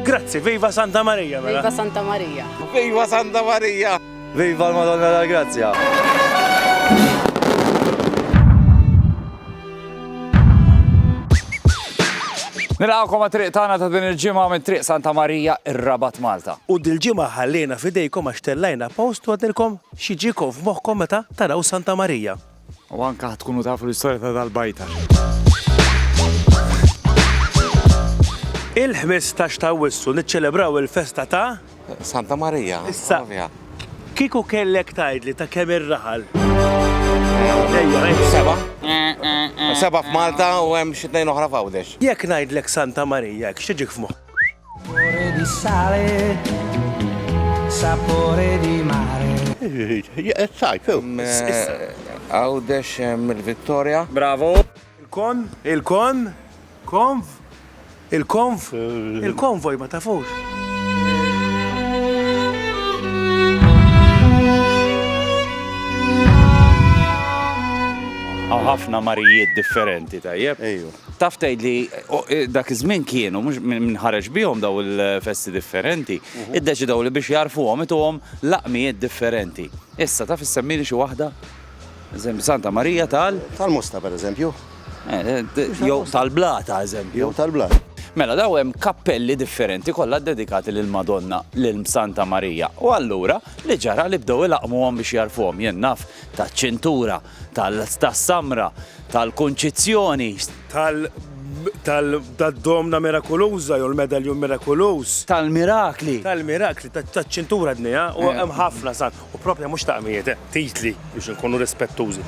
Grazzi, viva Santa Maria, mela. Viva Santa Maria. Viva Santa Maria. Viva l-Madonna la Grazia. Nilqawkom għat-triq tagħna ta' din il-ġimgħa minn triq Santa Marija ir-Rabat Malta. U dil-ġimgħa ħallejna fidejkom għax tellajna post u għadilkom xi ġikom f'moħħkom meta taraw Santa Marija. U anke ħa tkunu tafu l-istorja ta' dal-bajta. Il-ħmistax ta' Awwissu niċċelebraw il-festa ta'. Santa Marija. Issa, kieku kellek tgħidli ta' kemm ir-raħal? Seba'. Seba' f'Malta u hemm xi tnejn oħra f'Għawdex. Jekk ngħidlek Santa Marija, x'tiġik f'moħħok? Sapore di sale, sapore di mare. Sajf, Għawdex mill-Vittoria. Bravo. Il-kon, il-kon, konv, il-konv, il-konvoj ma tafux. Hawn ħafna marijiet differenti, tajjeb? Ejju. Taf tgħidli, dak iż-żmien kienu, mhux min ħareġ bihom dawn il-festi differenti, iddeċidew li biex jagħrfuhom ituhom laqmijiet differenti. Issa, taf issemmili xi waħda? Eżempju, Santa Marija tal-. Tal-Mosta, pereżempju. Jew tal-Blata, eżempju. Jew tal-Blata. Mela, dawn hemm kappelli differenti kollha ddedikati lill-Madonna, lil Santa Marija. U allura, li ġara li bdew ilaqqmuhom biex jagħrfuhom. Jien naf taċ-Ċintura, tas-samra, tal-Kunċizzjoni. Tad-domna mirakuluża jew il-medaljun mirakuluż. Tal-mirakli. Tal-mirakli, taċ-ċintura dnejha, u hemm ħafna sa. U proprja mhux taqmijiet, titli biex inkunu rispettużi.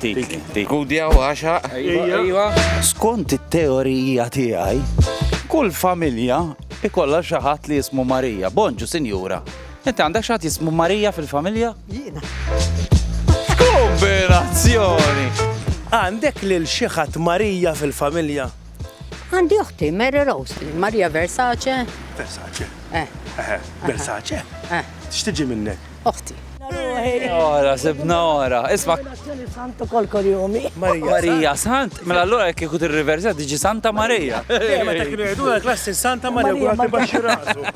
Titli. Gudja u għaxaq. Ejja. Skont it-teorija tiegħi, kull familja ikollha xi ħadd li jismu Marija. Bonġu, sinjura. Inti għandek xi ħadd jismu Marija fil-familja? Jiena. X'kombinazzjoni! Għandek lil xi ħadd Marija fil-familja? Għandi oħti, Mary Rose, Marija Versace. Versace? Eh. Eħe, Versace? Eh. X'tiġi minnek? Oħti. Ora, sibna ora. Isma' Dan is-sant ukoll korjomi. Marija Sant, mela allura jekk ikut ir-riversa tiġi Santa Marija. Meta kienu jgħidu klassi Santa Marija kull ħadd ibaxxi rasu.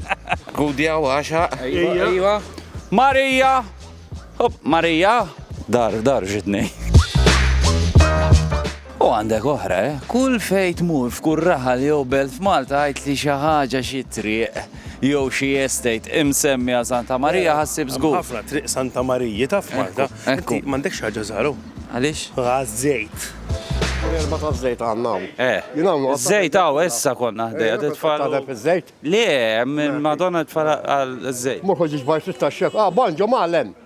Gudja u għaxa. Ejwa. Marija! Hop, Marija! Dar, dar ġitni. U għandek oħra, eh? Kull fejt mur f'kull raħal jew belt f'Malta għajt li xi ħaġa xi triq. jew xi estate imsemmi għal Santa Marija ħassib żgur. Hemm ħafna triq Santa Mariji ta' f'Malta. Inti m'għandekx ħaġa żgħar hawn. Għaliex? Għaż-żejt. Erba' ta' żejt għandna hawn. Eh. Żejt hawn issa konna ħdejja titfal. Tadeb iż-żejt? Le, Madonna tfal għal żejt. Mhux ħoġġieġ bajt it-taxxef. Ah, banġo mgħallem.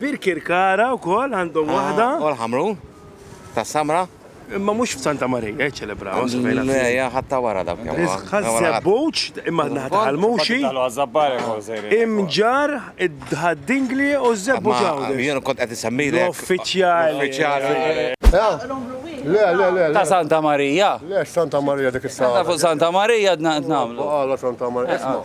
Birkirkara wkoll għandhom waħda. U l-Ħamrun, tas-Samra. Imma mhux f'Santa Marija jiċċelebraw. Le, hija ħatta wara dak. Ħaż-Żebbuġ, imma naħa ta' Ħalmuxi. Imġar, id-Ħaddingli u ż-Żebbuġ hawn. Jien kont qed isemmilek. Uffiċjali. Le, le, le. Ta' Santa Marija. Le, Santa Marija dik is-sala. Santa Marija qed nagħmlu. Santa Marija.